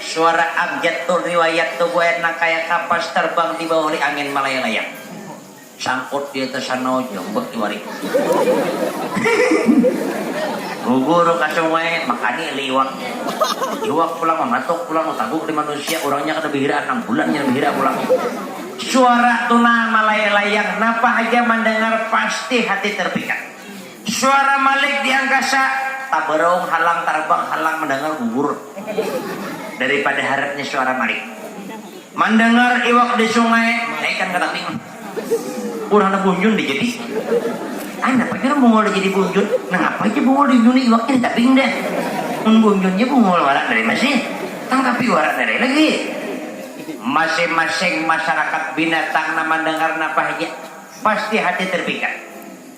Suara abjad Tur riwayat Tuguayan nang kaya kapas tarbang dibawa olih angin malayang-layang. Sangkut di atas sanau ja umbak tiwari. Gugur ka sungai, makani olih iwak. Iwak pulang mamatuk pulang bataguk di manusia, urangnya kada bihiraan nang bulannya bihira pulang. Suara tuna malayang-layang napa haja mandangar pasti hati tarpikat. Suara Malik di angkasa, tabaraung halang tarabang halang mandangar gugur dari pada haratnya suara Malik. Mandangar iwak di sungai mangaikan ka tabing. Urang nang bunjun di jadi. Ai napa jar Bungul di jadi bunjun, nangapa jar Bungul di bunjuni iwaknya di tabing dah. Mun bunjun ja Bungul wara dari masih, tangkapi wara dari lagi. Masing masing masarakat binatang nang mandangar napa haja pasti hati terpikat.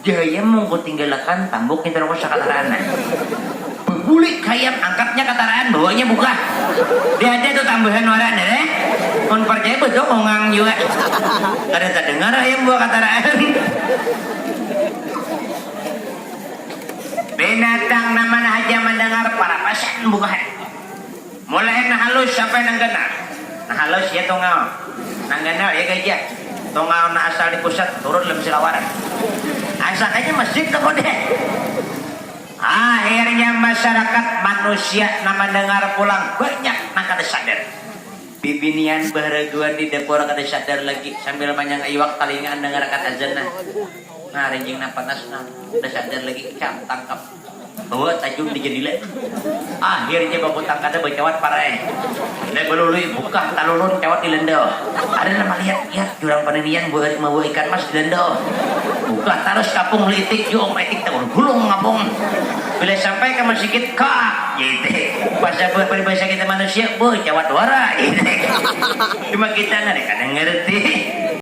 Dayam monggo tinggalakan tambuk ngintu nang usah kataraanan. Babulik hayam angkatnya kataraan bawanya bukah. Dah ada tu tambahan waran jar eh. Mun parcaya badua kongang jua. Kada tadangar hayam buah kataraan. Binatang nang mana haja mandangar parapasan bukahan. Mulahan nang halus sampai nang ganal. Nang halus ya tungal, nang ganal ya gajah. Tungal nang asal di pusat turun lem silawaran. Ansak aja masjid nang modern. Akhirnya masyarakat, manusia, nang mandangar pulang banyak nang kada sadar. Bibinian baharaguan di dapur kada sadar lagi sambil manyanga iwak talinga andangarakan azan nah. Nah rinjing nang panas nah, kada sadar lagi. Cam, tangkap. Bawa tajun di jendila. Akhirnya babutang kada bacawat parai. Nda balului bukah talulun cawat di lenda. Ada nang malihat, lihat jurang paninian buhari mawa ikan mas di lenda. Bukah tarus ka pung litik jua um itik taul gulung ngapung. Bila sampai ka masikit, kaak jar itik. Pasabuah paribasa kita manusia, beuh cawat wara jar itik. Cuma kita nang kada ngarti.